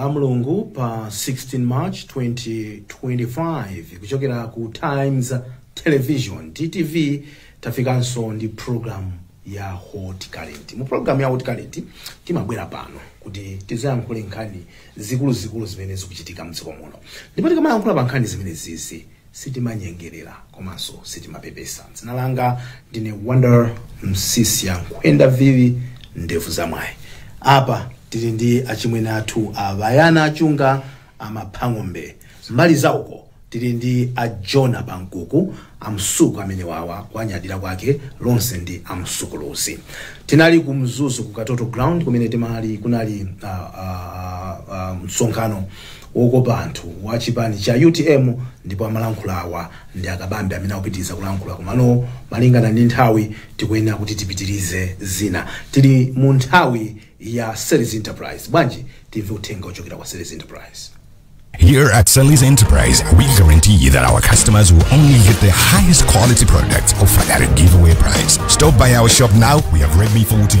Lamlungu pa 16 March 2025 kuchokera ku Times Television, TTV, tafikanso ndi program ya Hot Current. Mu program ya Hot Current timabwera pano kuti tizayankhule nkhani zikuluzikulu zimene zikuchitika mdziko muno. Ndipo tikamayankhula pa nkhani zimene zizi Sitimanyengelela komanso sitimapepesa. Dzina langa ndine Wonder Msiska Nkhwenda Vili Ndevu za Mwayi. Apa tili ndi achimwene athu a Bayana Chunga a Maphang'ombe. Mbali za uko tili ndi a Jona Pankuku, a Msuku amenewawa kuwanyadila kwake lonse ndi a Msukuluzi. Tinali ku Mzuzu ku Katoto ground kumene timali kunali ah, ah, ah, msonkhano wokopa anthu wa chipani cha utm ndipo amalankhula awa ndi akabambe amene akupitiriza kulankhula komano malingana ndi nthawi tikuyenera kuti tipitirize zina tili mu nthawi ya Sellis enterprise bwanji timve uthenga ochokera kwa Sellis enterprise Here at Sellis Enterprise, we guarantee that our customers will only get the highest quality products offered at a giveaway price. Stop by our shop now. We have Redmi 14,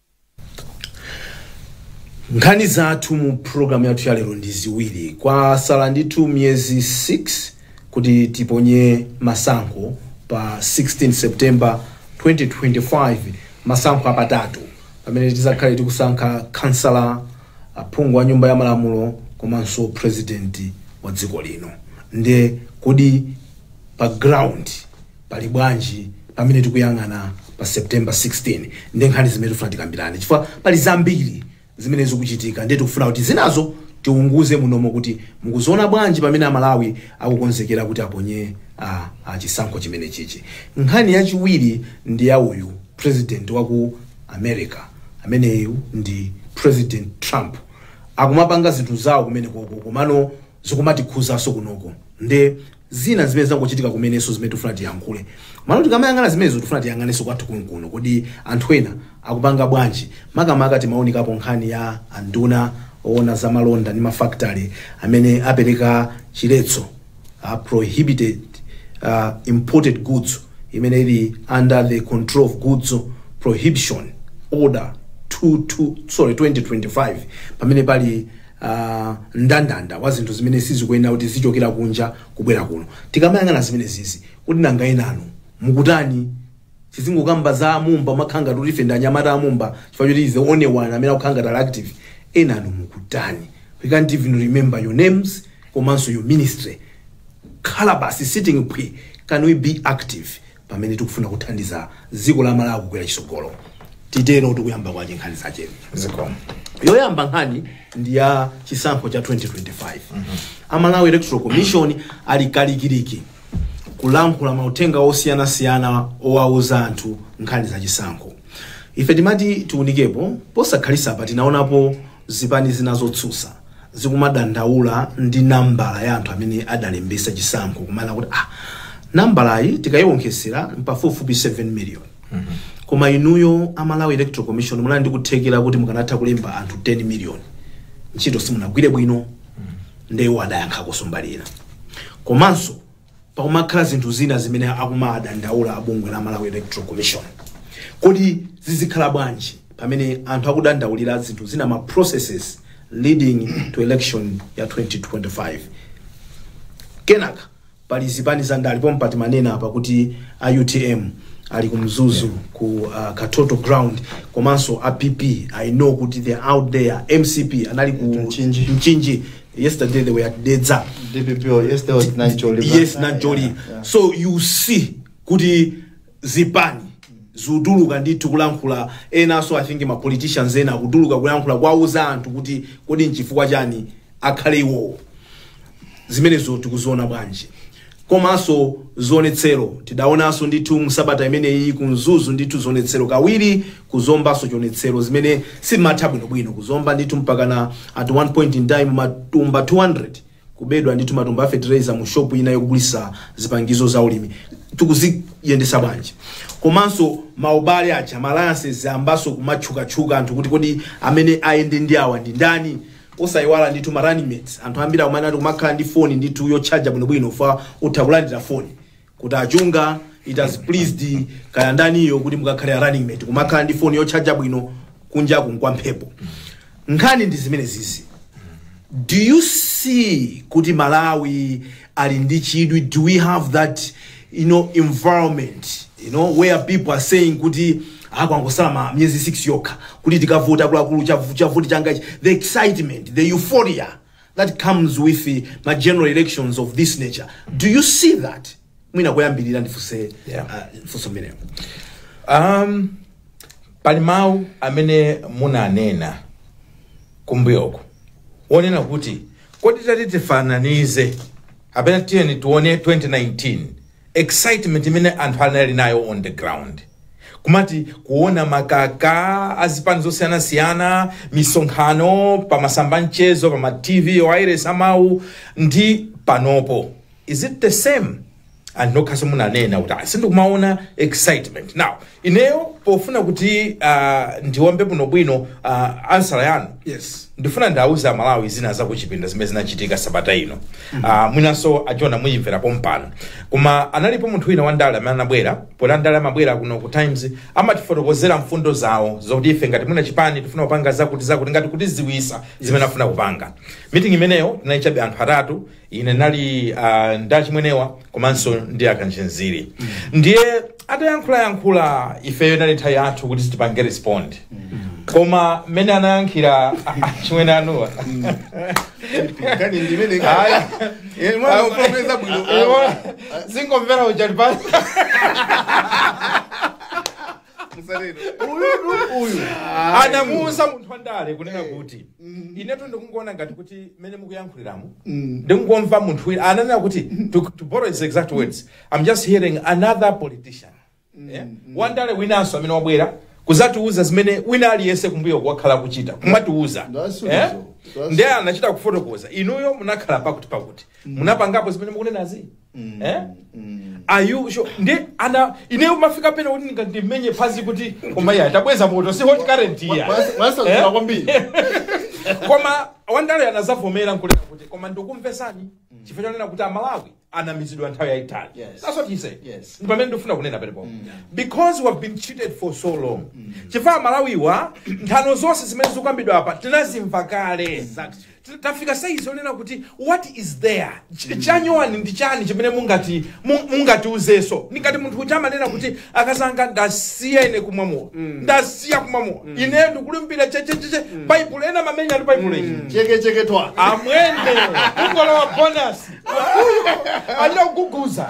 nkhani zathu mu programu yathu ya lero ndi ziwiri kwasala ndithu miyezi 6 kuti tiponye masankho pa 16 september 2025 masankho apatatu pamene tizakhale tikusankha khansala aphungu wa nyumba ya malamulo komanso president wa dziko lino nde kodi pa ground pali bwanji pamene tikuyang'ana pa september 16 ndi nkhani zimene tikufuna tikambirane chifukwa pali zambiri zimene zikuchitika ndiye tikufuna kuti zinazo tiunguze munomo kuti mukuziona bwanji pamene amalawi akukonzekera kuti aponye ah, ah, chisankho chimene chichi nkhani yachiwiri ndi ya uyu president wa ku america ameneyu ndi president trump akumapanga zinthu zawo kumene koko komano zikumatikhuzaso kunoko nde zina zimene zangochitika kumeneso zimene tifuna tiyankhule mano tikamayang'ana zimenezo tifuna tiyang'aneso kwathu kunkuno kodi anthu ena akupanga bwanji makamaka timaunikapo nkhani ya anduna oona za malonda ndi mafactory amene apereka chiletso uh, prohibited uh, imported goods imene ili under the control of goods prohibition order 22 sorry 2025 pamene pali uh, ndandanda wa zinthu zimene sizikuyenera kuti zichokera kunja kubwera kuno tikamayang'ana zimenezizi kuti nanga enanu mukutani tizingokamba za amumba makhala ngati ife ndi anyamata amumba chifukwa choti the only one amene akukhala ngati ali active enanu mukutani we can't even remember your names komanso your ministry khala basi sitting phwii can we be active pamene tikufuna kuthandiza dziko la malawi kukwera chitsogolo titero tikuyamba kwache nkhani zache zikomo yoyamba nkhani ndi ya chisankho cha 2025 a malawi electoral commission ali kalikiliki kulankhula mauthenga osiyanasiyana owauza anthu nkhani za chisankho ife timati tiunikepo posakhalitsapa tinaonapo Zipani zina zotsutsa zikumadandaula ndi nambala ya anthu amene adalembetsa chisankho kumanena kuti ah, nambalayi tikayiwonkhetsera mpafupifupi 7 million koma inuyo a Malawi Electoral Commission munali ndi kuthekera kuti mukanatha kulemba anthu 10 million ntchito simunagwire bwino nde iwo adayankha kusomba ili komanso pakumakhala zinthu zina zimene akumadandaula a bungwe la Malawi Electoral Commission. Kodi zizikhala bwanji pamene anthu akudandaulira zinthu zina ma processes leading to election ya 2025? Kenaka pali zipani za ndale pompa timanena apa kuti a UTM ali ku Mzuzu ku uh, Katoto ground komanso a PP I know kuti they are out there MCP anali ku Mchinji. Mchinji Yesterday they were at Dedza. DPP or yesterday was Nancholi. Yes, Yeah, Nanjoli. yeah, yeah. So you see kuti zipani zikutuluka ndithu kulankhula enanso i think ma politicians ena akutuluka kulankhula kwauza anthu kuti kodi nchifukwa chiyani akhale iwowo zimenezo tikuziona bwanji komanso zionetsero tidaonanso ndithu msabata imeneyi ku mzuzu ndithu zionetsero kawiri ku zombanso chionetsero zimene simatha bwinobwino ku zomba ndithu mpakana at one point in time matumba 200 kubedwa ndithu matumba a fertilizer mu shop ina yogulitsa zipangizo za ulimi tikuziyendesa bwanji komanso maubale aja ma alliances ayambanso kumatchukatchuka anthu kuti kodi amene ayende ndi awa ndi ndani Osaiwala ndithu ma running mates anthu ambiri akumanena kuti kumakhala ndi phone ndithu yotchaja bwinobwino chifukwa utha kulandira phone kuti achunga it has pleased kaya ndaniyo kuti mukakhale a running mate kumakhala ndi phone yotchaja bwino kunja kuno nkwa mphepo nkhani ndi zimenezizi do you see kuti malawi ali ndi chidwi do we have that you know environment you know where people are saying kuti kwangotsala miyezi 6 yokha kuti tikavote akuluakulu chavu- chavuti changa ichi." the excitement the euphoria that comes with the, ma general elections of this nature do you see that mwina kuyambirira ndifuse Yeah. uh, funso mmenemo um, pali mawu amene munanena kumbuyoko wonena kuti kodi tati tifananize kapena tiyeni tione 2019 excitement imene anthu anali nayo on the ground kumati kuona makaka azipani zosiyanasiyana misonkhano pamasamba a mchezo pama tv wailesi za mawu ndi panopo is it the same and nokhaso munanena kuti "Ah, sindikumaona excitement now ineyo pofuna kuti uh, ndiwombe bwinobwino uh, answer yanu yes ndifuna ndiwauze amalawi zina zakuchipinda zimene zinachitika sabata ino uh, mwinanso ajona muyimvera pompano koma analipo munthu wina wandale amene anabwera poti andale amabwera kuno ku times amatifotokozera mfundo zawo zokuti ife ngati mwina chipani tifuna kupanga zakuti zakuti ngati kutidziwisa zimene afuna kupanga meeting imeneyo tinaichabe anthu atatu ine nali uh, ndi achimwenewa komanso ndi akanchinziri ndiye atayankhulayankhula ifeyo inali nthawi yathu kuti tipange respond koma mmene anayankhira achimwene anuwa nkhani ndimene Ayi. Eh, mwana upomeza bwino zingomvera uchali pasi anamuuza munthu wandale kunena kuti inetu ndikungoona ngati kuti mmene mukuyankhuliramu ndikungomva munthu wina ananena kuti to, to borrow his exact words i'm just hearing another politician Eh? wandale winanso amene wabwera kuzatiuza zimene wina aliyense kumbuyoku akhala kuchita kumatiuza That's Eh? reason. That's- ndiye anachita kufotokoza inuyo munakhala pakuti pakuti munapangapo zimene mukunenazi Mm. Eh? Mm. are you sure nde ineyo umafika pena kuti ndinga ndimenye phazi kuti koma iya tabweza moto si hot current iya Mwansa- mwansaukira Eh? kwambiri koma wandale anazavomera nkunena kuti koma ndikumvesani chifukwa chonena kuti amalawi anamizidwa nthawi yayitali Yes. that's what he said Yes. Ndi pamene ndimafuna kunena penepo because we have been cheated for so long chifukwa amalawiwa nthano zonse zimene zikukambidwa apa tinazimva kale T- tafika saizi yonena kuti what is there Ch- chanyuwani ndi chani chimene mungati mu- mungatiuzeso ndingati munthu uja amanena kuti akazanga ndasiya ine kumwa mowa ndasiya kumwa mowa ineyo ndikulimbikira chechecheche baibulo ena mamenya ali baibulo ili chekecheke twa amwende kungolowa bonus alira kuguguza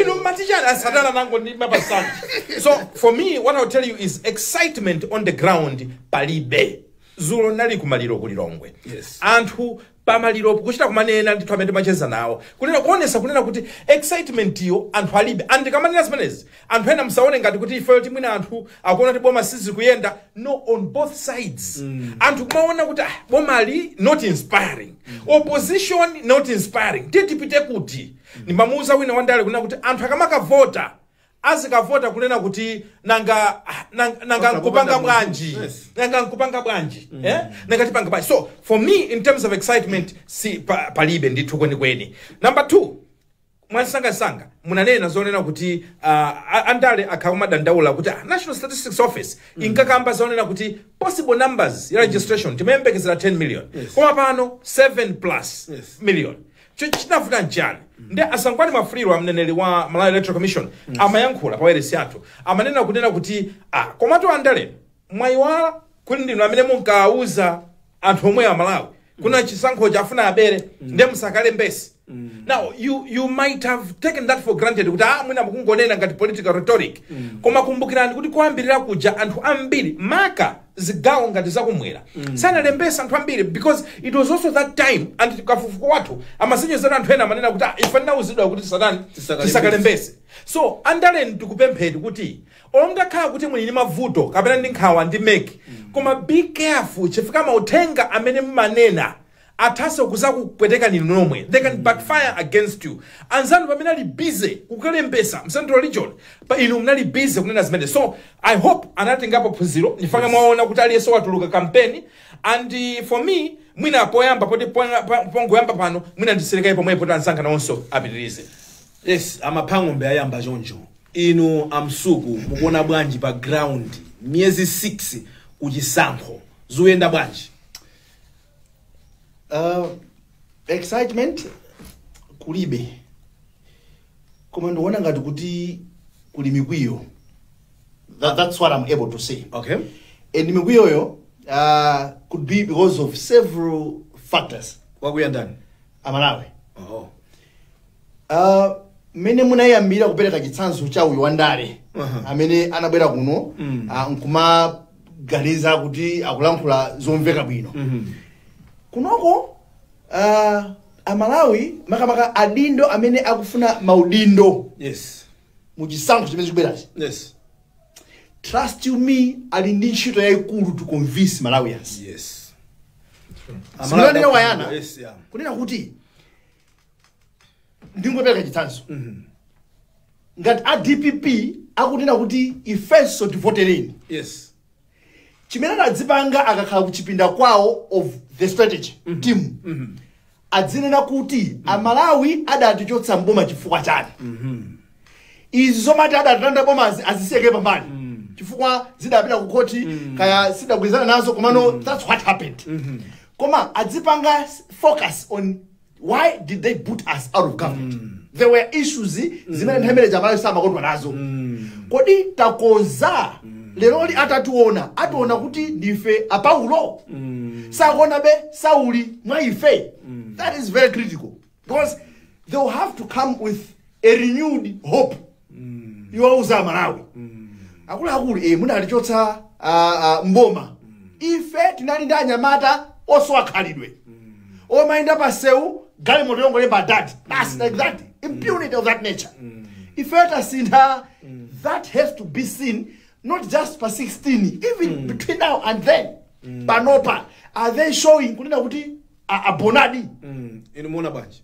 inu matichana asatana nango ndi mapasana so for me what i'll tell you is excitement on the ground palibe zulo nali kumaliro ku lilongwe Yes. anthu pamaliro kuchita kumanena ndithu amene timacheza nawo kunena kuonesa kunena kuti excitement yo anthu alibe and ndikamanena zimenezi anthu ena musaone ngati kuti ifeyo tikuti mwina anthu akuona kuti boma sizikuyenda no on both sides anthu kumaona kuti ah, boma ali not inspiring opposition not inspiring tiye tipite kuti ndimamuuza wina wandale kunena kuti anthu akamakavota azikavota kunena kuti nanga nanga, nanga Osakupanga nkupanga munthu. bwanji Yes. nanga nkupanga bwanji eh? nanga tipanga bwanji so for me in terms of excitement si pa, palibe ndithu kwenikweni number two mwamsangamsanga munanena zonena kuti uh, a- andale akhala akumadandaula kuti ah, national statistics office inkakamba zonena kuti possible numbers ya registration timayembekezera 10 million Yes. koma pano 7 plus Yes. million Cho- chinavuta nchiyani ndi a sangwani mwafulirwa a mneneri wa malawi electoral commission amayankhula pa wailesi yathu amanena kunena kuti ah, komatu andale mwayiwala kuti ndinu amene munkawauza anthu omwe a malawi kunena chisankhochi afuna abere nde musakalembetse now you, you might have taken that for granted kuti ah, mwina mukungonena ngati political rhetoric koma kumbukirani kuti kuyambirira kuja anthu ambiri maka zigawo ngati zakumwera sanalembetse anthu ambiri because it was also that time and kafukufuku wathu amasonyezera anthu ena amanena kuti "Ah, ife tinauzidwa kuti tisatani? Tisakalembese." so andaleni tikupempheni kuti olo mutakhala kuti muli ndi mavuto kapena ndi nkhawa ndi mec koma be careful chifukwa mauthenga amene mumanena athanso kuzakupwetekani inu nomwe they can backfire against you anzanu pamene ali busy kukalembesa m'central region pa inu munali busy kunena zimene so i hope anatengapo phunziro n'chifukwa chake mwaona kuti aliyense watuluka kampeni and uh, for me mwina poyamba poti pona- pa- pongoyamba pano mwina ndisiire kaye pomwepo kuti anzanga nawonso apitirize yes amaphang'ombe ayamba choncho inu amsuku mukuona bwanji pa ground miyezi 6 kuchisankho zikuyenda bwanji Uh, excitement kulibe koma ndikuona ngati kuti kuli mikwiyo that, that's what i'm able to say okay and mikwiyoyo uh, could be because of several factors wakwiya ndani amalawi oh. Ah, mmene munayambira kupereka chitsanzo cha uyu wandale Aha. amene anabwera kuno Mm. ah, nkumaganiza kuti akulankhula zomveka bwino kunoko ah, amalawi makamaka adindo amene akufuna maudindo yes mu chisankho chimene chikubwerachi yes trust you me ali ndi ntchito yayikulu to convince malawians yes Si amalawi a yana? Yes, yeah. kunena kuti ndingopereka chitsanzo ngati a dpp akunena kuti ifenso tivotereni yes chimene adzipanga akakhala kuchipinda kwawo of the strategy team adzinena kuti amalawi adatichotsa mboma chifukwa chani izi zomati adalanda bomazi azisiye kaye pambali chifukwa zidapita ku khoti kaya sadagwirizane nazo komano that's what happened koma adzipanga focus on why did they boot us out of government there were issues zimene nthawi imeneyo amalawi samakondwa nazo kodi takonza lero atationa ationa kuti ndife apaulo sakuonabe sauli mwa ife that is very critical because they will have to come with a renewed hope iwauza amalawi akuluakulu munatichotsa ah, ah, mboma ife tinali ndi anyamata osowa khalidwe omayenda pa msewu galimoto yongolemba dad basi like that impunity of that nature ife tasintha that has to be seen not just pa 16 even between now and then panopa are they showing kunena kuti a- abonadi inu mukuona bwanji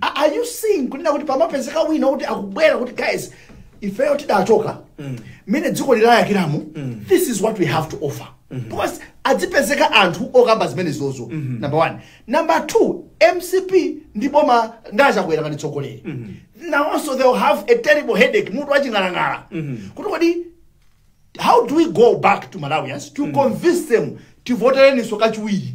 A- are you seeing kunena kuti pamapezeka wina kuti akubwera kuti guys ifeyo tidachoka mmene dziko layakiramu this is what we have to offer because adzipezeka anthu okamba zimene zozo number one number two mcp ndi boma ndi aChakwera ngati tsogoleri now also they will have a terrible headache mutu waching'alang'ala kuti kodi how do we go back to malawians to convince them tivotereniso kachiwiri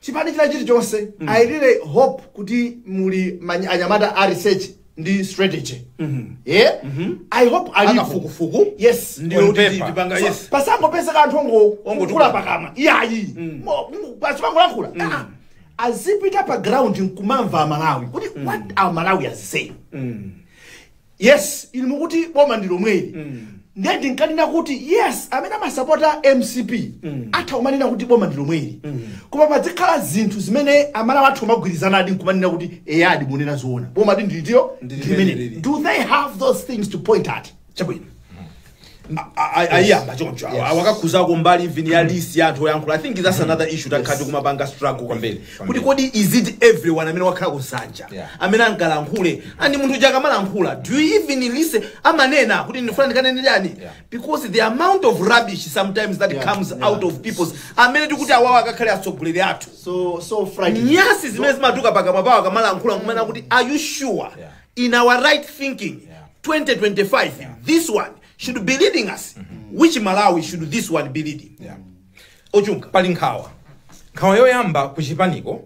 chipani china chilichonse mm. i really hope kuti muli anyamata a research ndi strategy yeah? i hope alipo akafukufuku yes ndi oti tipanga yes pasangopezeka anthu ongo- ongokula pakamwa iyayi Mo- mu- basi pangolankhula Ah, azipita pa ground nkumamva amalawi kuti what are malawians saying yes inu mukuti boma ndi lomweli ndiye ndinkanena kuti yes amene amasapota mcp atha kumanena kuti boma ndi lomweli koma padzikhala zinthu zimene amalawi atha kumagwirizanadi nkumanena kuti eyadi munena zoona bomadi ndi litilo Ndi ndilimeneli. limeneli. do they have those things to point at chabwino ayiyamba choncho awa- anakakhudzako mbali even ya list ya anthu oyankhula i think that's another issue takhala tikumapanga struggle kwambiri kuti kodi is it everyone amene wakhala kusanja Yeah. amene angalankhule and munthu uja akamalankhula do you even listen amanena kuti ndifuna ndikanene chani Yeah. because the amount of rubbish sometimes that Yeah, comes yeah. out of people's amene tikuti awawa akakhale atsogoleri athu so so frightening nyasi zimene zimatuluka pakamwa pawo akamalankhula kumanena kuti are you sure Yeah. in our right thinking 2025 this one should be leading us which malawi should this one be leading Yeah. ochunga pali nkhawa nkhawa yoyamba ku chipaniko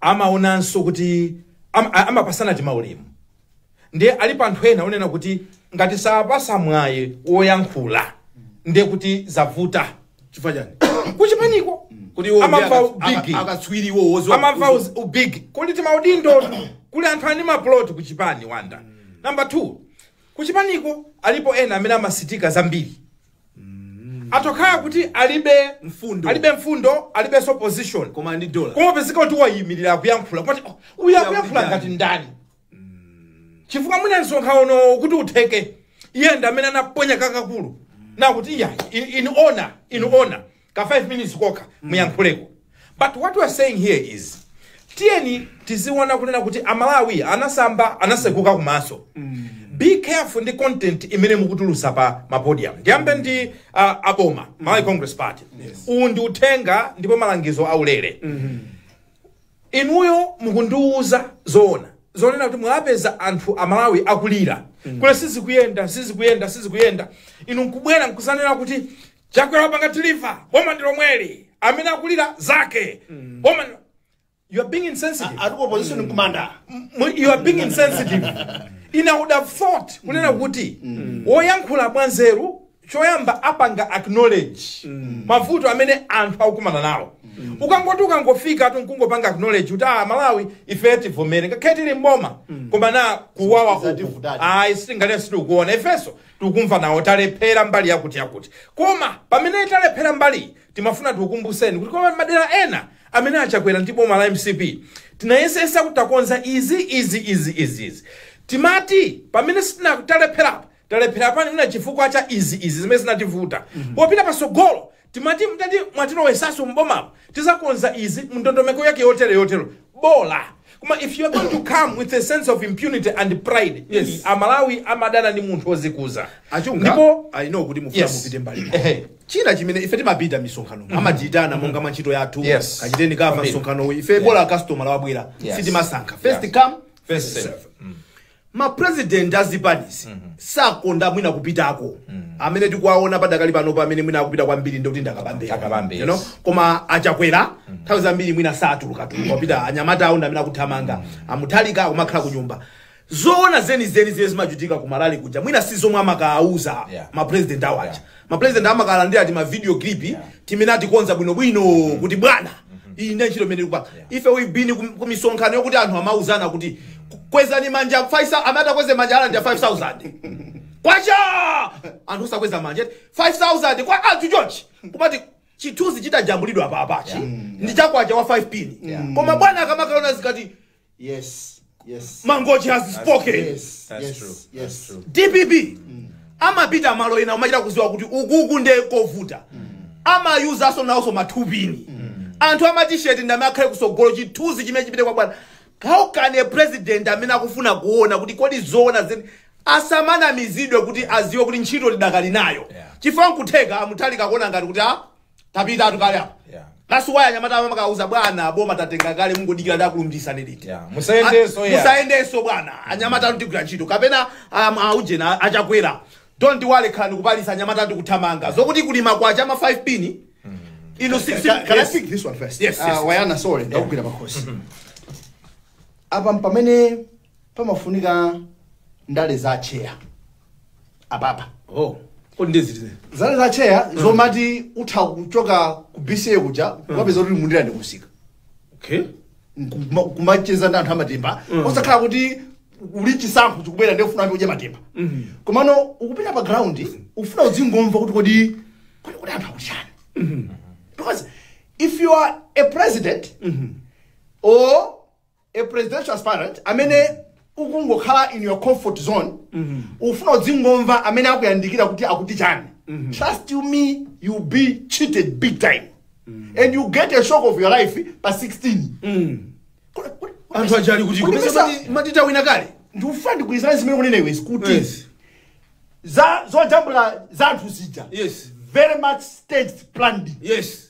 amaonanso kuti am- a- amapatsana timaulemu ndiye alipo anthu ena onena kuti ngati sawapatsa mwayi woyankhula ndiye kuti zavuta chifukwa chani kuchipaniko kuti iwo amamva ndi aka- ubigi aka- akatswiri iwo wozo- amamva wozo- uz- ubigi kuli timaudindo kuli anthu eni maplot kuchipani wanda namba 2 kuchipaniko alipo ena amene amasutika zambiri atha kukhala kuti alibe Mfundo. alibe mfundo alibenso position koma ndi dola koma pezeka kuti wayimirira akuyankhula kuti oh, uyu akuyankhula Akuyankhula ngati ndani chifukwa mwina msonkhanowo kuti utheke iye ndi amene anaponya kakakulu nakuti iye in, in honor in honor ka 5 minutes kokha muyankhuleko but what we are saying here is tiyeni tiziona kunena kuti amalawi anasamba anasukusuka kumaso be careful ndi content imene mukutulusa pa mapodium ndiyambe ndi uh, aboma malawi congress party uwu ndi uthenga ndipo malangizo aulere inuyo mukundiuza zoona zonena kuti mwapeza anthu amalawi akulira kuti sizikuyenda sizikuyenda sizikuyenda inu nkubwera nkuzanena kuti chakwera wapanga deliver boma ndi lomweli amene akulira zake boma ndi- you are being insensitive Ati opposition nkumanda. Mu- you are being insensitive I would have thought kunena kuti woyankhula mwanzeru choyamba apanga acknowledge mavuto amene anthu akukumana nawo ukangoti ukangofika tu nkungopanga acknowledge kuti amalawi ife tivomere ngakhale tili mboma koma na kuwawa uku Zativutadi. ayi sitinganene sitikuona ifenso tikukumva nawo talephera mbali yakuti yakuti koma pamene talephera mbali timafuna tikukumbuseni kuti koma madera ena amene achakwera ndi boma la mcp tinayesesa kuti takonza izi izi izi izi izi timati pamene sitinatalepherapo talephera pa ndi mwina chifukwa cha izi izi zimene zinativuta popita pasogolo timati mutati mwatilowesaso mbomapo tizakonza izi ndondomeko yake yotero yotero bola koma if you are going to come with a sense of impunity and pride Yes. ii, amalawi amadana ndi munthu wozikuza achunga ndipo i know kuti mufuna Yes. mupite mbali ina. Ehe. china chimene ife timapita misonkhano amatiyitana monga mwa ntchito yathu Yes. kachiteni kava Kwambiri. msonkhanowu ife bola customer wabwera Yes. sitimasankha first Yeah. come first serve ma president a zipanizi sakonda mwina kupitako amene tikuwaona padakali pano pamene mwina akupita kwambiri ndikuti ndi akabambe Ndi akabambe, you know? yes. koma achakwera nthawi zambiri mwina satuluka tuluka kupita anyamata awo ndamene akuthamanga amutharika akumakhala ku nyumba zoona zenizeni zimene zimachitika ku malali kuja mwina si zomwe amakawauza Yeah. ma president awo aja Yeah. ma president amakalandira ti ma video clip timene atikonza bwino bwino kuti bwana iyi ndi ntchito imene tikupanga ife we've been ku- ku misonkhano yokuti anthu amauzana kuti kwezani manja 5000 amene atakweze manja alandira 5000 kwacha anthu osakweza manja 5000 kwa anthu chonchi kumati chithunzi chitajambulidwa apapachi ndi chakwacha wa 5 pin koma bwana akamakalaona zikati Yes, yes. mangochi has spoken Yes, That's yes, true. yes. That's true. dpp amapita malo ena umachita kuziwa kuti ukuku nde kovuta amayuza nso nawonso mathu pini anthu amatisheti ndamene akhale kusogolo chithunzi chimene chipite kwa bwana how can a president amene akufuna kuona kuti kodi zoona zeni asamanamizidwe kuti aziwe kuti ntchito alidakali nayo Yeah. chifukwa nkutheka amutharika kuona ngati kuti a tapitatu kale apa Yeah. that's why anyamata amakauza bwana boma tatenga kale mungodikira ndi kulumbirisani liti Yeah, musayendenso, yeah. musayendenso bwana anyamata anu tigwira ntchito kapena um, aujena achakwera don't worry khalani ku palace anyamata anu tikuthamanga zokuti kulima kwacha ama 5 pini inu si- si- Can, can I yes. speak this one first? Yes, Uh, yes. Wayana, sorry, ndakugwira pakhosi. Apa m'pamene pamafunika ndale za chair. apapa oh kodi ndi ziti ndale za chair zomati utha kuchoka ku BCA kuja kukapezeka kuti mu Ndirande kumsika okay Kuma- kumacheza ndi anthu amatemba osakhala kuti poti chisankho chikubwera ndiye ufuna udye matemba komano ukupita pa ground ufuna udzingomva kuti kodi kodi kodi anthu akuti chani because if you are a president or a presidential aspirant amene ukungokhala in your comfort zone ufuna udzingomva amene akuyandikira kuti akuti chani trust you me you'll be cheated big time and you'll get a shock of your life pa 16 Kodi- kodi- anthu aja ali kuti kodi kupeza mesa- mati- matita wina kale ndikufuna ndigwirizane zimene ukunena iwe kuti Yes. za zojambula za anthu zija Yes. very much staged planned yes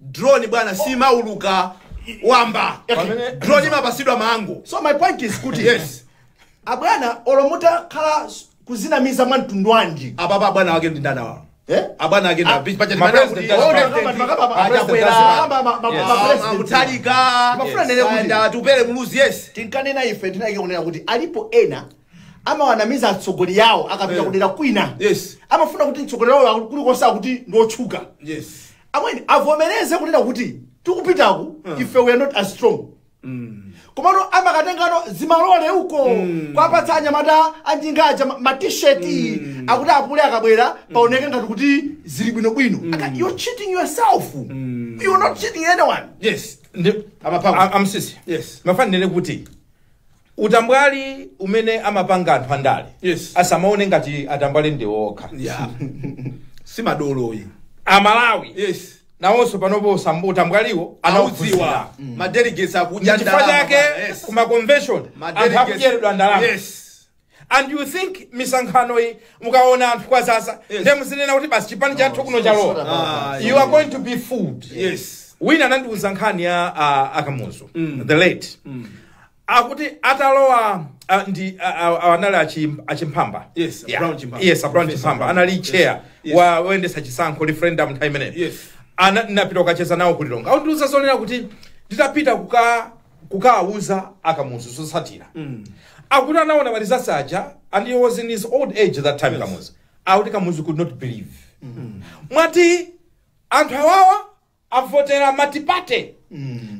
Drone bwana simauluka wamba. Pamene- Drone imapasidwa mango. so my point is kuti Yes. abwana olo mutakhala s- kuzinamiza mwa mtundu wanji Abwana bwana wake ndi ndani awa? Eh? Abwana wake Ah, ndi pacha ma ndi president kuti- awa. Achakwera. Achakwera. Mutharika. Ndimafuna ndinene kuti- And Atupele Muluzi yes. tinkanena ife tsiku linalake kunena kuti alipo ena amawanamiza atsogoleri awo akapita Eh. kudera kwina Yes. amafuna kuti mtsogoleri wawo kulikonse kuti ndiotchuka Yes. amwene, avomereze kunena kuti tikupitaku ife we are not as strong komano amakatengabe zimalole uko kuwapatsa anyamata anjinga aja ma- ma t-shirt akuti apule akabwera paoneke ngati kuti zili bwinobwino Aka- you're cheating yourself you're not cheating anyone yes ndi Amapanga. A- a Msiska Yes. ndimafuna ndinene kuti utambwali umene amapanga anthu andale Yes. asamaone ngati atambwali ndi iwo okha ya sim'mbaloyi amalawi yes nawonso panopo samba utambwaliwo anaudziwa anaudziwa madelegates akudya chifukwa ndalama chake bwana, yes. ku maconvention Ma anthu delegates- akudyeredwa ndalama yes and you think misonkhano iyi mukaona anthu kwadzadza Yes. ndiye muzinena kuti basi chipani chathu kuno chalowa Ah, you are going to be fooled yes wina anandiuza nkhani ya uh, a Kamuzu the late akuti atalowa ah, ndi ah, ah, ah, anali achi- a Chimphamba Yes, Yeah. Brown Chimphamba. yes a Brown Professor Chimphamba Brown. anali Yes. chair Yes. wa oyendetsa chisankho referendum nthawi imeneyo Yes. Ana- ndinapita kukacheza nawo ku lilongwe akundiuza zonena kuti nditapita kuka kukawauza akamuzu zotsatira akuti anaona ma results aja and he was in his old age that time kamuzu akuti kamuzu could not believe mwati anthu awawa avotera multiparty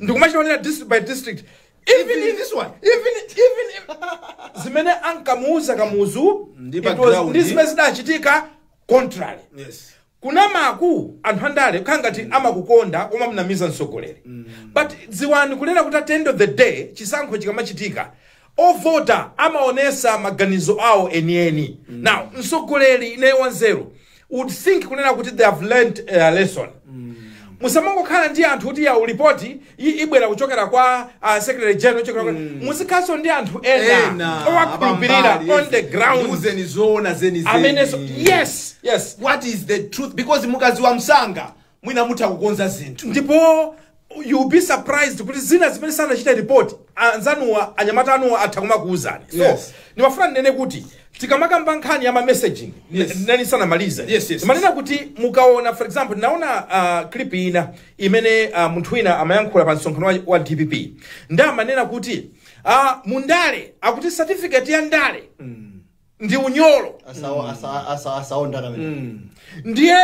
ndikumachiwonera district by district even Even in this one. even even if- zimene ankamuuza kamuzu Ndi it was- background. ndi zimene zidachitika contrary yes kunamaku anthu andale kukhala ngati amakukonda kumamnamiza mtsogoleri but dziwani kunena kuti at the end of the day chisankho chikamachitika Ovota amaonesa maganizo awo enieni. Now mtsogoleri ineyo wanzeru would think kunena kuti they have learnt a lesson. musamangokhala ndi anthu kuti yawu lipoti i- ibwera kuchokera kwa uh, secretary general kuchokera kwa muzikhalanso ndi anthu ena ena owakhulupirira abambali, on yes. the ground Ndiuzeni zoona zenizeni. amenenso yes yes what is the truth because mukadziwa msanga mwina mutha kukonza zinthu ndipo you'll be surprised kuti zina zimene sanachite report anzanuwa anyamata anuwa atha kumakuwuzani so Yes. ndimafuna ndinene kuti tikamakamba nkhani ya ma messaging Yes. ndinali ndisanamalize Yes, yes, manena kuti mukaona for example ndinaona uh, clip ina imene uh, munthu wina amayankhula pa msonkhano wa, wa dpp ndi amanena kuti uh, mundale akuti certificate ya ndale ndi unyolo Asawa- asa- asa- asaondana amene. ndiye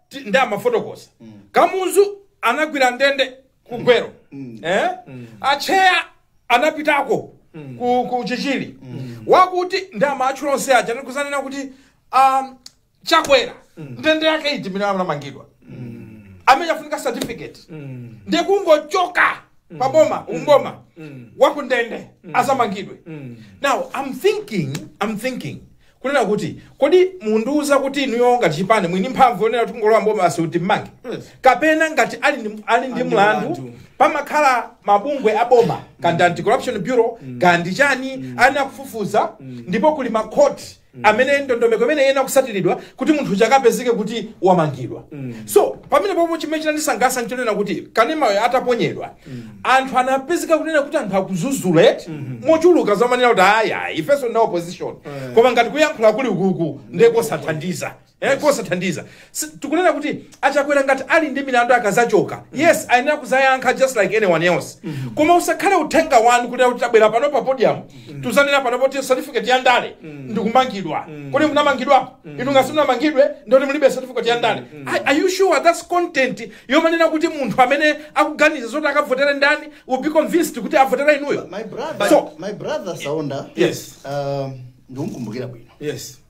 ti- ndi amafotokoza kamuzu anagwira ndende ku Gwelo eh? atcheya anapitako ku, ku chichiri wakuti ndi amatchula onse aja ndikudzanena kuti um, chakwera ndende yake iti imene anamangidwa amene afunika certificate ndiye kungochoka paboma mboma wakundende adzamangidwe now i'm thinking i'm thinking kunena kuti kodi mundiuza kuti inuyo ngati chipani muli ndi mphamvu yonena kuti kungolowa mboma basi kuti mmange Yes. kapena ngati ali ndi- ali ndi ndi mlandu mlandu. pamakhala mabungwe a boma kaya ndi anti corruption bureau kaya ndi chani ayenera kufufuza ndipo kuli makhoti amene ndondomeko imene iyenera kutsatiridwa kuti munthu uja akapezeke kuti wamangidwa so pamenepopo chimene chinandisangalatsa nchonena kuti kanemayo ataponyedwa anthu anapezeka kunena kuti anthu akudzudzula mochuluka amanena kuti ayi ifenso ndi a opposition koma ngati kuyankhula kuli ukuku nde kosathandiza Eh, kosathandiza Si- tikunena kuti achakwera ngati ali ndi milandu akazachoka yes ayenera kuzayankha just like anyone else koma usakhale uthenga wanu kuti kuti tabwera pano pa podium tuzanena pano poti certificate ya ndale ndikumangidwa kodi munamangidwa inu ngati simunamangidwe nde kuti mulibe certificate ya ndale Are- are you sure that's content yomanena kuti munthu amene akuganiza zoti akavotere ndani will be convinced kuti avotere inuyo my brother, So- my brother Saonda Yes. um, ndikumkumbukira bwino yes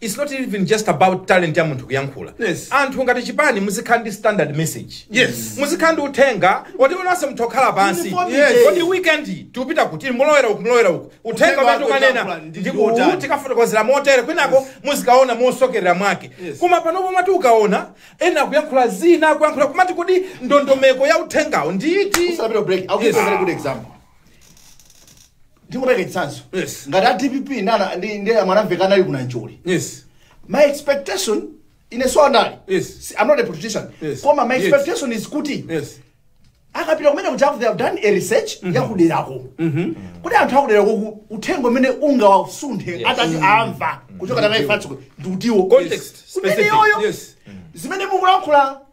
It's not even just about talent ya munthu kuyankhula Yes. anthu ngati chipani muzikhala ndi standard message Yes. muzikhala ndi uthenga woti nonse mutha kukhala pansi Uniformity. Yes. kodi weekend tiupita kuti mulowera uku mulowera uku uthenga Uthenga umene wake tikanena uti ndi ndi wotani? uwu tikafotokozera motere kwinako muzikaona mosokerera mwake Yes. koma panopo mmati ukaona ena akuyankhula zina akuyankhula kumati kodi ndondomeko ya uthengawo ndi iti Usanapite break. I'll give you a very good example. ndikupereka chitsanzo Yes. ngati a dpp ndi ndi mwanamvekha anali kuna njoli yes my expectation ine a Saonda Yes. Si- i'm not a politician Yes. koma my Yes. expectation is kuti yes akapita kumene kuti aku they have done a research yakuderako kuti anthu akuderako ku- uthenga umene ungawasunthe atati amva kuchoka naye fatso ndi utiwo Context, Umene specific, yoyo yes. zimene mukulankhula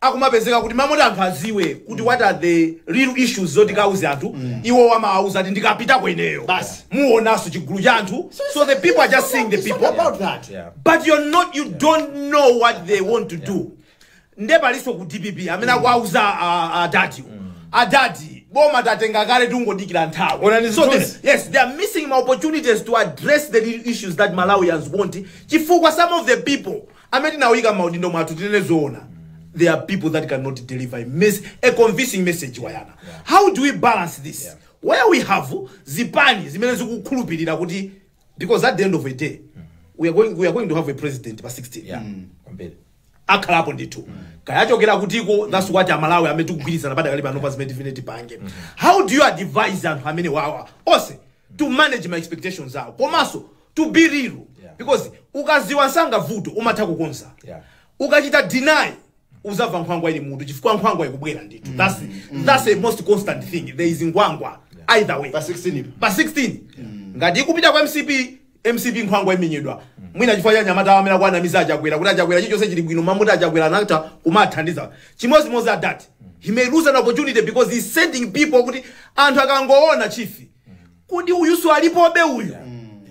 akumapezeka kuti mmalo moti anthu aziwe kuti what are the real issues zoti akauze anthu iwo amawauza ati ndikapitako ineyo Basi. muonaso chigulu cha anthu so the people are just seeing the It's not people about that. Yeah. but you're not you don't know what they want to do nde alinso ku dpp amene akuwauza a- adadi adadi boma tatenga kale tungodikira nthawi Onani so zithunzi. the, yes they are missing ma opportunities to address the real issues that malawians want chifukwa some of the people amene tinawaika mmaudindo mwathu tinene zoona there are people that cannot deliver a, mes a convincing message a Yona how do we balance this yeah. where we have zipani zimene zikukhulupirira kuti because at the end of the day we are going, we are going to have a president pa 16 yeah kwambiri akhalapo ndithu kaya achokera kutiko that's what amalawi amene tikugwirizana padakali pano pa zimene tifune tipange how do you advise anthu amenewawa onse to manage ma expectations awo komanso to be real Yeah. because ukaziwa msanga vuto umatha kukonza Yeah. ukachita deny uzamva nkhwangwa ili mmutu chifukwa nkhwangwa ikubwera ndithu that's, that's a most constant thing there is nkhwangwa either way Pa 16 ilipo. pa 16 ngati ikupita kwa mcp mcp nkhwangwa imenyedwa mwina chifukwa cha anyamata awo amene akuwanamiza achakwera kuti achakwera chilichonse chili bwino mmalo moti achakwera anatha kumathandiza chimodzimodzi adadi he may lose an opportunity because he's sending people kuti anthu akangoona chifi Kodi uyuso alipobe uyu?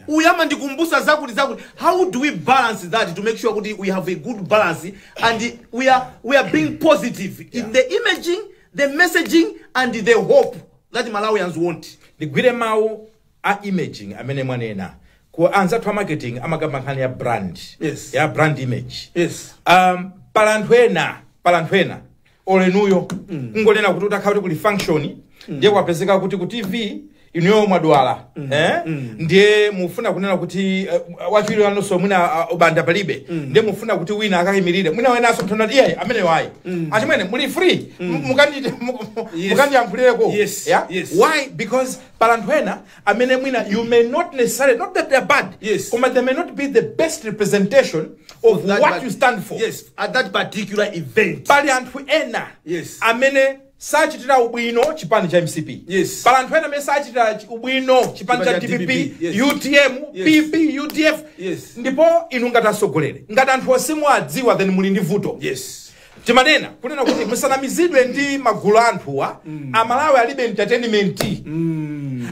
Uyu amandikumbusa zakuti zakuti. How do we balance that to make sure kuti we have a good balance and we are being positive in the imaging, the messaging and the hope that Malawians want. ndigwire mawu a imaging amene mwanena ku anzathu a marketing amakamba nkhani ya brand Yes. ya brand image Yes. um, pali anthu ena pali anthu ena oli inuyo kungonena kuti utakhala kuti kuli function ndiye kwapezeka kuti ku tv inuyo mwadwala eh? ndiye mufuna kunena kuti uh, wachiwiri wanonso mwina uh, ubanda palibe ndiye mufuna kuti wina akayimirire mwina wenaso munthu nati iyayi ameneyo ayi achimwene muli free mukandi- mu- mu- Yes. mukandiyankhulireko Yes, Yeah? yes. why because pali anthu ena amene mwina you may not necessarily not that they are bad Yes. koma they may not be the best representation of That what part- you stand for yes at that particular event pali anthu ena Yes. amene sachitira ubwino chipani cha mcp Yes. pali anthu ena amene sachitira chi- ubwino chipani cha Chipani cha dpp DPP, yes. utm Yes. pp udf Yes. ndipo inu ngati atsogoleri ngati anthu ngati simuwadziwa then muli ndi vuto yes timanena kunena kuti musanamizidwe ndi magulu a anthuwa amalawi alibe entertainment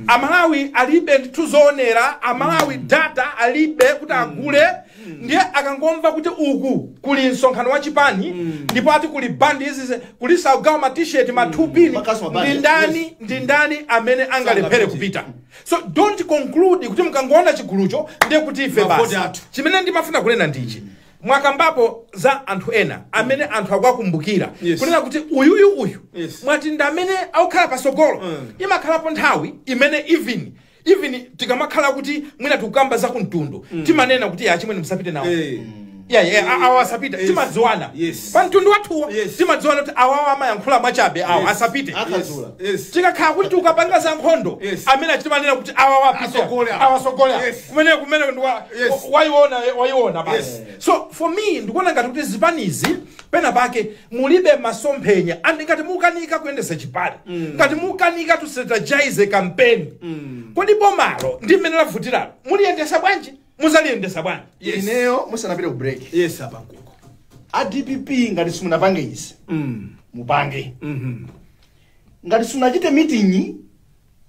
amalawi alibe ndithu zoonera amalawi data alibe kuti agule ndiye akangomva kuti uku kuli msonkhano wa chipani ndipo ati kuli bandi izi kulinso akugawa matisheti mathupini Makasu mabandi, ndi ndani yes. ndi ndani amene angalephere Sangapite. kupita so don't conclude kuti mukangoona chigulucho ndiye kuti ife Mavoti basi athu. chimene ndimafuna kunena ndichi mwakambapo za anthu ena amene anthu akuwakumbukira Yes. kunena kuti uyuyu uyu Yes. mwati ndi amene akukhala pasogolo Mm. imakhalapo nthawi imene even even tikamakhala kuti mwina tikukamba za kumtundu timanena kuti achimwene musapite nawo Eh. Yeah, yeah, a- awa asapite Yes. timadziwana Yes. pa mtundu wathuwo Yes. timadziwana kuti awawo amayankhula mwachabe awo Yes. asapite Akazula. Yes. tikakhala kuti tikukapanga za nkhondo Yes. amene timanena kuti awa wapita Asogole awa. awasogole awa. Yes. kumeneko kumeneko ndi wa- Yes. wa- waiona waiona basi Yes. so for me ndikuona ngati kuti zipanizi pena pake mulibe masomphenya and ngati mukanika kuyendesa chipani ngati mukanika to strategize campaign kodi bomalo ndi mmene lavutiralo muliyendesa bwanji muzaliyendesa bwanji Yes. ineyo musanapite ku break yes apa nkuti a dpp ngati simunapange izi mupange ngati simunachite meeting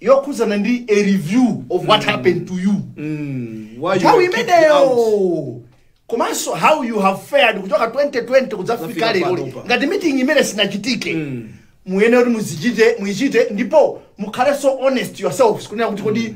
yokhudzana ndi a review of what happened to you Mm, why you nthawi were kicked out. imeneyo komanso how you have fared kuchoka 2020 kudzafika Kudzafika lero panopa. ngati meeting imene sinachitike Mm. muyenera kuti muichite ndipo mukhalenso honest yourselves kunena kuti kodi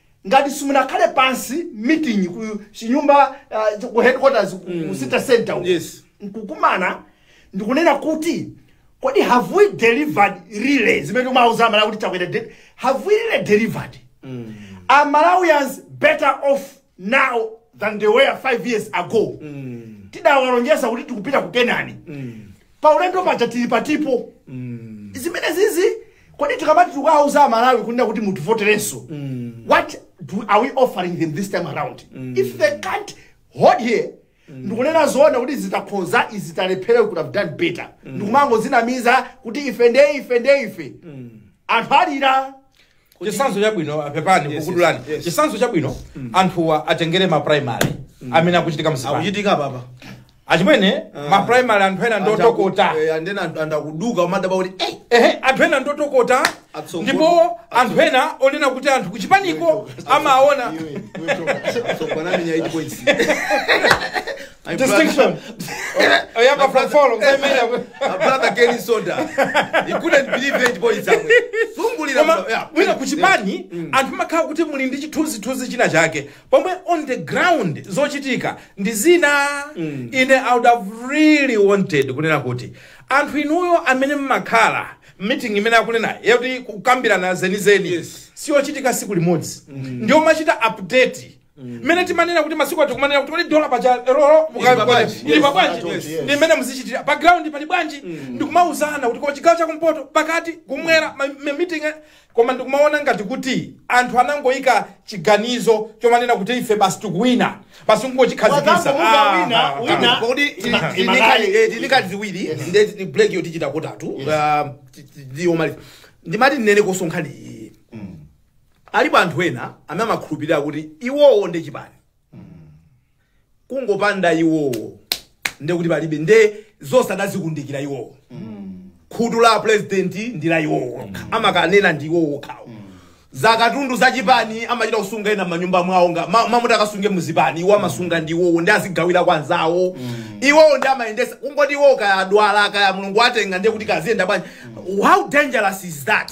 Ngati simunakhale pansi meeting ku chinyumba uh, ku headquarters ku, mm. ku city center uko yes. nkukumana ndikunena kuti kodi have we delivered really zimene tidauza amalawi kuti Chakwera de- have we really delivered mm. are malawians better off now than they were five years ago mm. tidawalonjeza kuti tikupita ku Kenani mm. paulendo paja tili patipo zimene zizi kodi tikamati tikawauza amalawi kunena kuti mutivoterenso what do, are we offering them this time around if they can't hold here ndikunena zoona kuti izi takhoza izi talephera could have done better ndikumangozinamiza kuti ife nde ife nde ife anthu alira chisanzo chabwino pepani Yes, kukudulani yes, yes. chisanzo chabwino anthuwa atengere ma primary amene akuchitika mzipani akuchitika papa achimwene Ah. ma primary anthu ena ndotokota Eh, andena anthu- anthu akuduka umadaba kuti "Ei, ehe anthu ena ndotokota Atsongo- ndipo anthu ena onena kuti anthu kuchipaniko amaona iwe, iwe toka." So, bwana amenya 8 points My Distinction. brother, Oh, yeah, but from follow. Say, man, my brother Kenny Soda. He couldn't believe it, boy. It's happening. Zungulira koma mno- yeah. wina kuchipani anthu makhala kuti muli ndi chithunzithunzi china chake pomwe on the ground zochitika ndi zina ine i would have really wanted kunena kuti anthu inuyo amene mmakhala meeting imene akunena yakuti kukambirana zenizeni Yes. siyochitika siku limodzi ndiyo mumachita update mmene timanena kuti masiku ati kumanena kuti kodi dola paja lero Ili pa bwanji? ili pa bwanji Yes, yes. ndi mmene muzichitira pa ground pali bwanji ndikumauzana kuti koma chigawo chakumpoto pakati kumwera ma- ma- meeting eh, koma ndikumaona ngati kuti anthu anangoyika chiganizo chomanena kuti ife basi tikuwina basi ngochikhazikisa Wakangomuka wina, wina. kodi Imakali. tinikali ziwiri nde ndi break yo tichita kotatu Ah, ti- ti- ndiyomaliza ndimati ndinene kosonkhani iyi alipo anthu ena amene amakhulupirira kuti iwowo ndi chipani kungopanda iwowo nde kuti palibe nde zonse adazikundikira iwowo khutu la a president ndi la iwowo okha amakanena ndi iwowo okhawo zakatundu za chipani amachita kusunga ena manyumba mwawo ngati ma- mmalo moti akasunge muzipani iwo amasunga ndi iwowo ndi azigawira kwa anzawo iwowo ndi amayendesa kungoti iwowo kaya adwala kaya mulungu atenga ndiye kuti kaziyenda bwanji how dangerous is that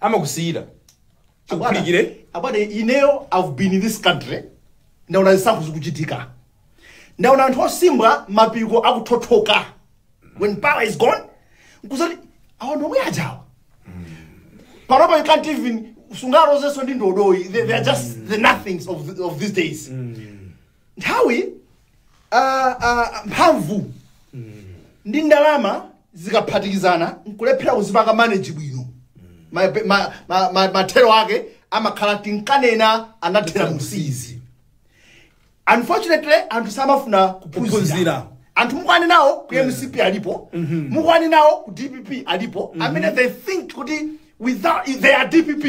amakusiyira akuphulikire abale ineyo i've been in this country ndaona zisankho zikuchitika ndaona anthu osimbwa mapiko akuthothoka when power is gone nkudzati awa ndi omwe ajawa panopa you can't even sungalozenso ndi ndodoyi they, they are just the nothings of, the, of these days nthawi ah, ah, mphamvu ndi ndalama zikaphatikizana nkulephera kuzipanga manage bwino Ma- ma- ma- ma- mathero ake amakhala tinkanena anathera msiizi unfortunately anthu samafuna kuphunzira Kuphunzira. anthu mukwani nawo ku mcp alipo mukwani nawo ku dpp alipo amene they think kuti without they are dpp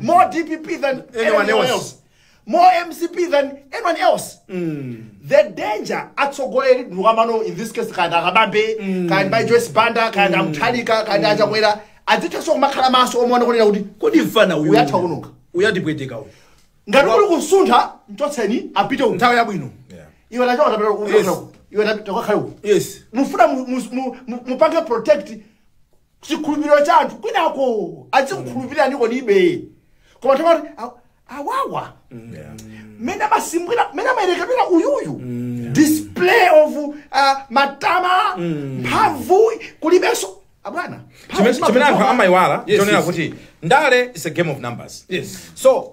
more dpp than anyone else More mcp than anyone else the danger atsogoleri ndiwamano in this case kaya akabambe kaya mayi joyce banda kaya amutharika kaya achakwera adzithanso kumakhala maso omaona kunena kuti kodi mfana uyu Uyatha kunuka. uyatipweteka uyu ngati kuli kusuntha mchotseni apite uku nthawi yabwino Yeah. iwe nachoka tapita uku Yes. iwe takakhala uku yes mufuna mu- mu- mu- mu- mupange protect chikhulupiriro cha anthu kwinako adzikukhulupiriranikodibe koma akamati a- awawa mmene amasimbwira mmene amayerekedwera uyuyu display of uh, matama mphamvu kulibenso abwana mphamvu chimene chimene anthu zimapezewa. amayiwala Yes, chonena yes. kuti ndale is a game of numbers Yes. so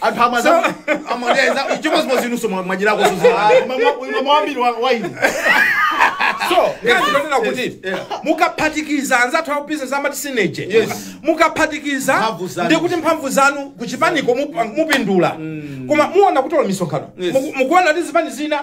anthu amaza amaledza chimodzimodzi inuso mwadyerako wambiri waini so ngati kunena kuti mukaphatikiza anzathu akubizinesi amati synergy Yes. mukaphatikiza Mphamvu zanu. ndi kuti mphamvu zanu kuchipaniko mup- mupindula koma muona kuti olo misonkhano Yes. Muku- mukuona kuti zipani zina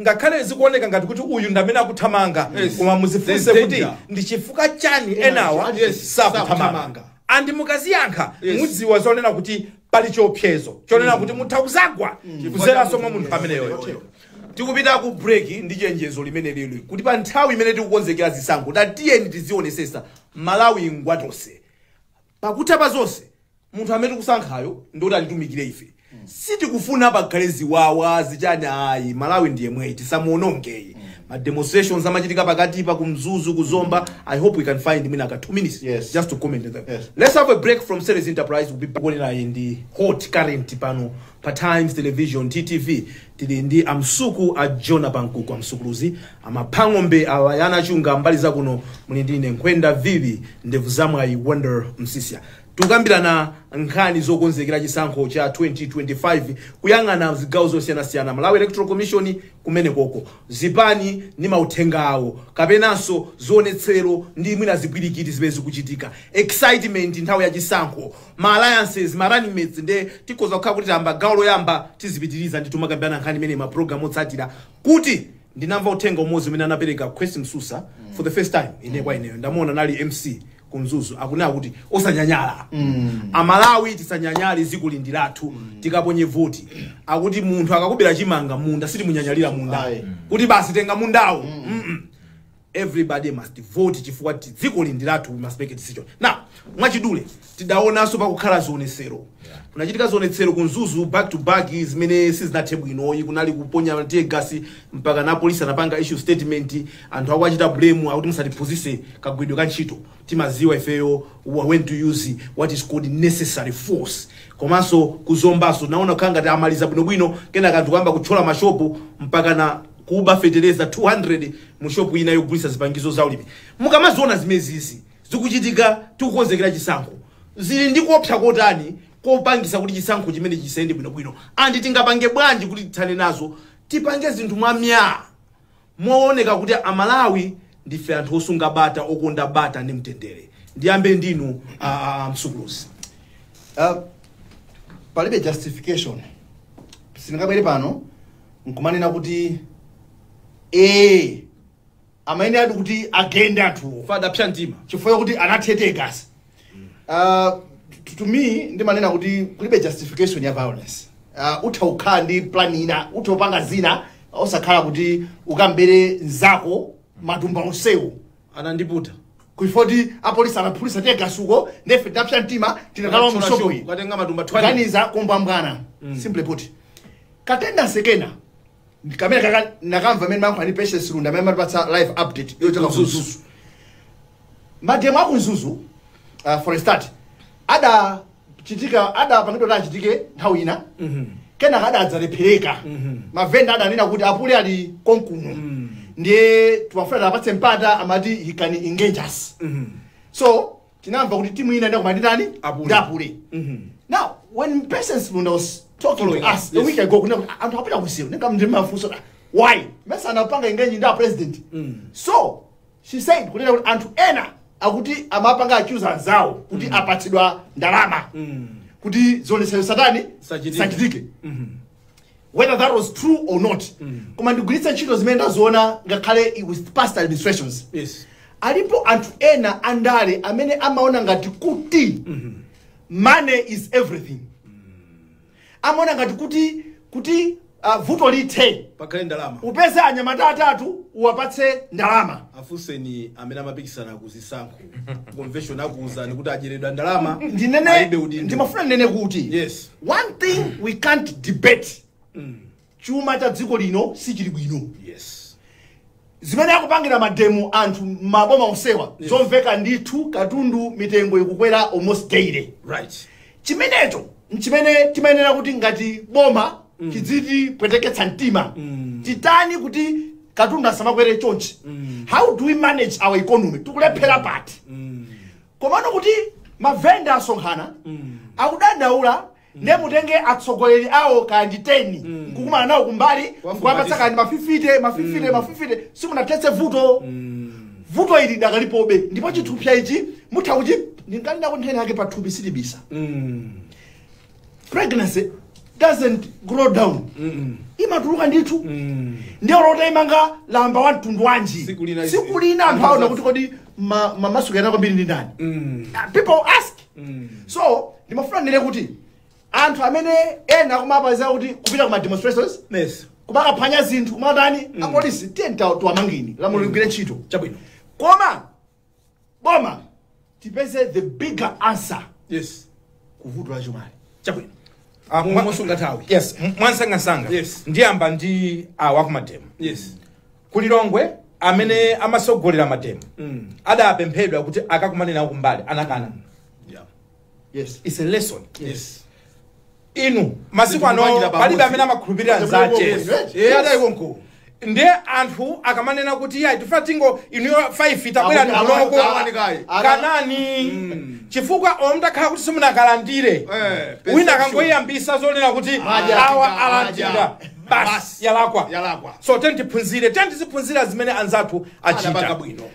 Ngakhale zikuoneka ngati kuti uyu ndi amene akuthamanga Yes. koma There's muzifunse kuti danger. ndi chifukwa chani enawa Yes. sakuthamanga Sakuthamanga. andi mukaziyankha Yes. mudziwa zonena kuti pali chiopsezo chonena kuti mutha kuzagwa kuzeranso mwa munthu ameneyoyo tikupita ku break ndi chenjezo limene lili loti pa nthawi imene tikukonzekera zisankho tatiyeni tizionesesa malawi ngwatose pakutha pa zonse munthu amene tikusankhayo ndoti atitumikire ife sitikufuna pakhale ziwawa zichani ayi malawi ndi yemweyi tisamuonongeye ma demonstrations amachitika pakati pa kumzuzu kuzomba i hope we can find mwina ka 2 minutes Yes. just to comment on that Yes. let's have a break from series enterprise we'll be back mukuonera hot current pano pa times television ttv tili ndi amsuku a jonah pankuku amsukuluzi amaphang'ombe awayana chunga mbali zakuno muli ndine nkhwenda vivi ndevu zamwayi wonder msisya Tikukambirana nkhani zokonzekera chisankho cha 2025, kuyang'ana zigawo zosiyanasiyana, Malawi Electoral Commission, kumenekoko, zipani ndi mauthenga awo, kapenanso zionetsero ndi mwina zipwirikiti zimene zikuchitika, excitement nthawi ya chisankho, ma alliances, ma running mates, nde tikhoza kukhala kuti tayamba gawo loyamba, tizipitiriza ndithu kumakambirana nkhani imeneyi ma program otsatira, kuti ndinamva uthenga umodzi umene anapereka Kwesi Msusa for the first time, ine kwa ineyo ndamuona anali MC, ku mzuzu akunena kuti osanyanyala amalawi tisanyanyale dziko lino ndi lathu tikaponye voti akuti munthu akakubera chimanga munda sitimunyanyalira munda Ayi. kuti basi tenga mundawo Mm-mm. everybody must vote chifukwa ti- dziko lino ndi lathu we must make a decision now mwachidule taonanso kukukhala zionetsero kunachitika zionetsero ku mzuzu back to back zimene sizinathe bwinoyi kunali kuponya tear gas mpaka na polisi anapanga issue statement Anthu akuwachita blame kuti musatiphunzise kagwidwe ka ntchito timaziwa ifeyo when to use what is called necessary force komanso ku Zombaso kunaoneka kukhala ngati amaliza bwinobwino kenaka anthu kuyamba kutchola mashopu mpakana kuba feteleza 200 mu shopu ina yogulitsa zipangizo za ulimi mukamaziona zimezizi zikuchitika tikukonzekera chisankho zili ndi kuopsa kotani kopangisa kuti chisankho chimenechi chisayende bwinobwino andi tingapange bwanji kuti tithane nazo tipange zinthu mwamyaa Mowoneka kuti a Malawi ndife anthu osunga bata, okonda bata ndi mtendere. Ndiyambe ndinu a, a, a Msukuluzi. Uh, palibe justification sindingabwere pano nkumanena kuti ee amayeneradi kuti agende anthuwo adapsa mtima chifukwa chakuti anathira tear gas Uh, to- to me ndimanena kuti kulibe justification ya violence uh, utha kukhala ndi plan ina utha kupanga zina osakhala kuti ukambere nzako matumba onsewo anandiputa kuifoti apolisi anaphulisa tear gas uko nde ife tidapsa mtima tinakalowa mu shop iyi kukatenga matumba 20 kuganiza kombwambwana simply put katenda sekena kamene ndinakamva kwa amene amayankhula uja Patience Lunda amene amatipatsa live update yochoka Mzuzu. ku Mzuzu mademo aku Mzuzu uh, for a start adachitika adapangidwa kuti achitike nthawi ina kenaka adadzalephereka mavenda adanena kuti apule ali konkuno ndiye tikufuna tiwapatse mpata mwati he can engage us so tinamva kuti timu ina inakumana ndi ndani Apule. ndi apule now when patience lunda was talking to Following us us, a yes. week ago kunena kuti anthu apita kwa CEO ndiye ndimamufunsa why mesa anapanga engage ndi a president so she said kunena kuti anthu ena akuti amapanga accuse anzawo kuti apatsidwa ndalama kuti zionetsero zisatani Zisachitike. zisachitike whether that was true or not koma ndigwiritse ntchito zimene ndaziona ngakhale i- with past administrations yes alipo anthu ena andale amene amaona ngati kuti money is everything amaona ngati kuti kuti uh, vuto lithe pakhale ndalama upeze anyamata atatu uwapatse ndalama afunseni amene amapikisana kuzisankho convention akuuzani kuti adyeredwa ndalama alibe ndinene udindo ndimafuna ndinene kuti Yes. one thing we can't debate chuma cha dziko lino sichili bwino yes zimene akupangira mademo anthu mmaboma onsewa zomveka ndithu katundu mitengo ikukwera almost daily right chimenecho nchimene timayenera kuti ngati boma chidzitipweteketsa mtima titani kuti katundu asamakwere chonchi how do we manage our economy tikulephera pati komano kuti mavenda asonkhana akudandaula ndiye mutenge atsogoleri awo kaya ndi 10 nkukumana nawo kumbali nkuwapatsa kaya ndi mafifite mafifite mafifite simunathetse vuto vuto ili dakalipobe ndipo chithupsa ichi mutha kuti ndinkanena kuti nthenda yake pathupi silibisa Mm. pregnancy doesn't grow down Mm. imatuluka ndithu Mm. ndi olo uta imanga lamba wa mtundu wanji Siku lina izi- siku lina anthu aona kuti kodi ma- mamasuka ena kwambiri ndi ndani Mm. Ah, people ask Mm. so ndimafuna ndinene kuti anthu amene ena akumapangira kuti kupita ku ma demonstrations yes kumakaphwanya zinthu kumatani apolisi tiyeni tawo tiwamangeni lamulo ligwire ntchito chabwino koma boma tipeze the bigger answer yes kuvuto la chumali chabwino Ah, mwa- mosunga nthawi yes m- mwansangasanga Yes. ndiyamba ndi awa kumademo yes ku lilongwe amene amatsogolera mademo adapemphedwa kuti akakumane nawo kumbali anakana yeah Yes. It's a lesson. Yes. Inu masiku ano Ndikupangira pamodzi. palibe amene amakhulupirira Yes. nzache. Yes. Yes. Yes. Yes. Nde anthu akamanena kuti ayi tifuna tingo inuyo 5 itabwera Akuti awa- ndonoko awa ni kaye. kanani chifukwa olo mutakhala kuti simunakalandire Eh, wina perception. akangoyambisa zonena kuti Maja, awa maja. alandira basi Basi. yalakwa Yalakwa. so tiyeni tiphunzire tiyeni tiziphunzira zimene anzathu Anapanga achita bwino.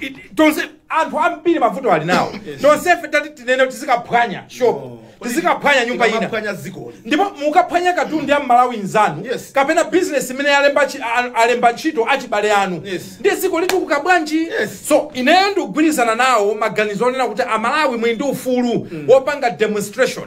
It- tonse anthu ambiri mavuto ali nawo tonsefe tati tinene kuti tizikaphwanya shop tizikaphwanya nyumba ina Tikumaphwanya dzikoli. ndipo mukaphwanya katundu ya mmalawi nzanu Yes. kapena bizinesi imene yalemba chi- a- alemba ntchito achibale anu Yes. ndiye dziko litukuka bwanji Yes. so ineyo ndikugwirizana nawo maganizo onena kuti amalawi muli ndi ufulu wopanga demonstration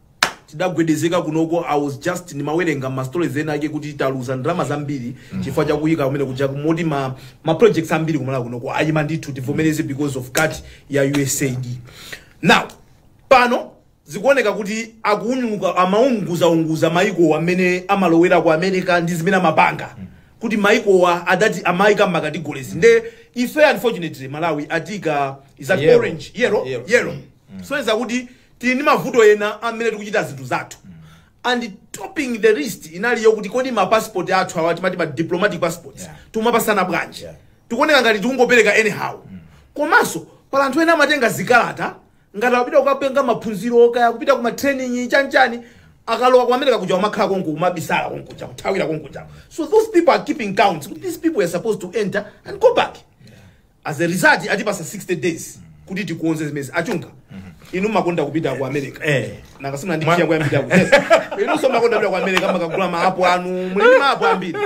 tidagwedezeka kunoko i was just ndimawerenga ma stories ena ake kuti taluza ndalama zambiri chifukwa cha kuyika kumene kuja moti ma, ma projects ambiri kumalawi kunoko ayima ndithu tivomereze because of cut ya usaid now pano zikuoneka kuti akuunika amaunguzaunguza maiko amene amalowera ku america ndi zimene amapanga kuti maikowa adati amayika mmakategorizi nde ife unfortunately malawi atiika is on Yellow. orange yellow Yellow. yellow so iza kuti tili ndi mavuto ena amene tikuchita zinthu zathu and topping the list inali yokuti kodi ma passport athu awa timati ma diplomatic passports Yeah. tumapasana bwanji Yeah. tikuoneka ngati tikungopereka anyhow komanso pali anthu ena amatenga zikalata ngati akupita kukapanga maphunziro kaya kupita kuma training chanchani akalowa ku america kuja kumakhala konko kumabisala konkuja kuthawira konkuja so those people are keeping count these people are supposed to enter and go back as a result atipasa 60 days kuti tikonze zimenezi achunga inu mumakonda kupita ku america Eh. nanga simuna ndi Mwa- chiya kuyambira ku yes inunso mumakonda kupita ku america mumakagula maapo anu muli ndi maapo ambiri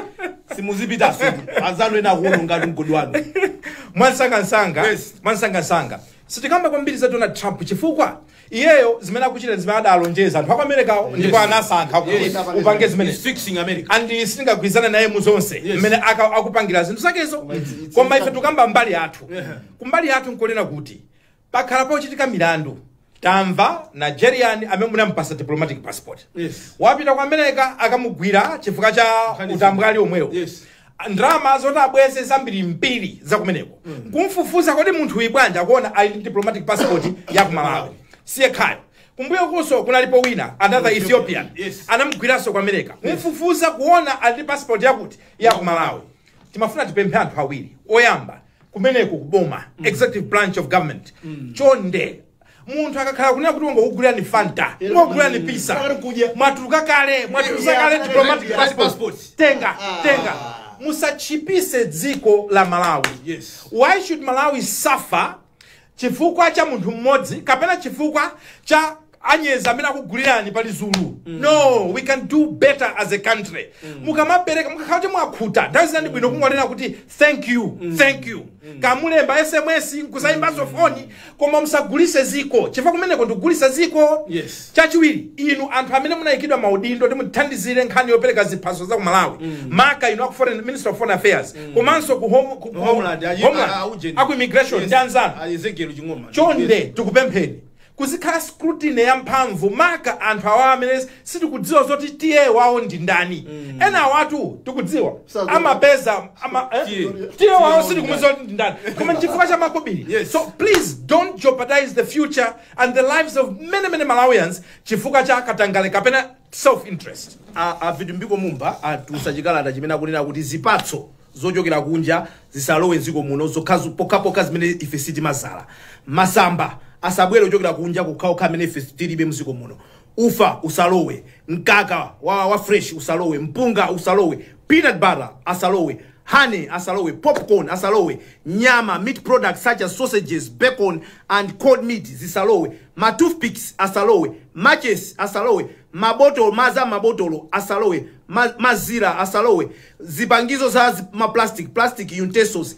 simuzipita sudi anzanu ena akuononga ndi mgodi wanu mwansangansanga Yes. mwansangansanga sitikamba kwambiri za donald trump chifukwa Iyeyo zimene akuchita ndi zimene adalonjeza anthu aku Americawo ndipo Yes. anasankha kuti Yes. upange He's zimenezi fixing America. and sitingagwirizane naye mu zonse Yes. mmene aka- akupangira zinthu zakezo it's- it's koma ife something. tukamba mbali yathu Yeah. kumbali yathu nkoona kuti pakhala pakuchitika milandu tamva nigerian amene munampasa diplomatic passport Yes. wapita ku america akumugwira chifukwa cha Nkhani utambwali omwewo Yes. ndalama zoti abweze zambirimbiri za kumeneko kumfufuza kodi munthuyu bwanji akuona ali ndi diplomatic passport ya ku malawi siyekhayo kumbuyokunso kunalipo wina another ethiopian Yes. anamugwiranso ku america kumfufuza kuona ali ndi passport yakuti ya ku malawi timafuna tipemphe anthu awiri oyamba kumeneko kuboma executive branch of government chonde munthu akakhala kunena kuti wangokugulirani fanta Eh, wangokugulirani mm, pizza pakati kudya. mwatuluka kale mwatuluka Yeah, kale yeah, diplomatic yeah, passport passport. tenga Ah. tenga musachipise dziko la malawi Yes. why should malawi suffer chifukwa cha munthu mmodzi kapena chifukwa cha anyezi amene akugulirani pali zulu no we can do better as a country mukamapereka mukakhala kuti mwakhuta nthawi zina ndi bwino kungonena kuti thank you thank you kamulemba sms nkusayimbanso foni Koma musagulise ziko chifukwa kumeneko ndikugulisa ziko yes. Chachiwili inu anthu amene munayikidwa maudindo oti mutithandizile nkhani yopeleka ziphaso za ku Malawi mm. Maka inu aku foreign, Minister of Foreign Affairs mm. Komanso ku home, ku, homeland, aji, homeland a, a, a, aku immigration yes. Ndi anzanu chonde yes. tikupempheni kuzikhala scrutiny ya mphamvu maka anthu awa amene sitikudziwa zoti tiye wawo ndi ndani enawatu tikudziwa Sakudziwa. amapeza ama, eh? Tiye. tiye Tiye wawo wawo sitikumudziwa ndi ndani koma chifukwa cha makobiri Yes. so please don't jeopardize the future and the lives of many many malawians chifukwa cha katangale kapena self interest a- a vitumbiko mumba atulutsa chikalata chimene akunena kuti zipatso zochokera kunja zisalowe dziko muno zokhazo pokhapokha zimene ife sitimazala masamba asabwere ochokera kunja okhawokha amene ife tilibe mdziko muno ufa usalowe mkaka wa, wa fresh usalowe mpunga usalowe peanut butter asalowe honey asalowe popcorn asalowe nyama meat products such as sausages bacon and cold meat zisalowe ma toothpicks asalowe matches asalowe mabotolo maza mabotolo asalowe ma, mazira asalowe zipangizo za zi- ma plastic plastic utensils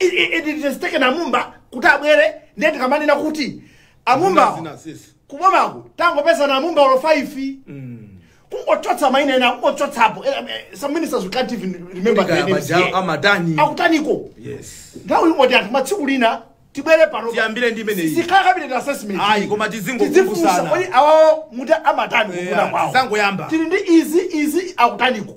nde it has taken a mumba kuti abwere ndiye tikamanena kuti a mumbawo Zina sisi. kubomaku tangopeza na mumba olo 5 kungochotsa maina ena kungochotsapo Eh, eh, some ministers we can't even remember Kaya their names majawo here. amatani. akutaniko Yes. nthawi imodzi anthu tsiku lina tibwere pano Tiyambire ndi imeneyi. sikhala cabinet assessment Ayi, koma tizingokumbusana. Tizifunsa, kodi awawo muti amatani kufuna Yeah, kwawo tisangoyamba. tili ndi izi izi akutaniko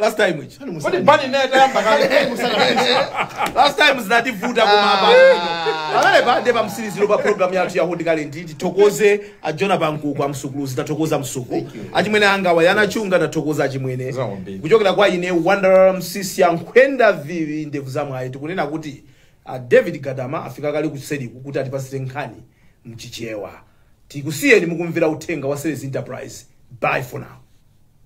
last time ichi Kodi musana. bani naye tayamba kale last time zinativuta koma apa pamenepa nde pamsiliziro pa program yathu ya hot current tithokoze a jona pankuku amsukuluzi tathokoza msuku achimwene anga wayana chunga tathokoza achimwene Zaombiri. kuchokera kwa ine wonder msisi ya nkhwenda vivi ndevu za mwayi tikunena kuti ah, david gadama afika kale kuseriku kuti atipasire nkhani mchichewa tikusiyeni mukumvera uthenga wa sales enterprise bye for now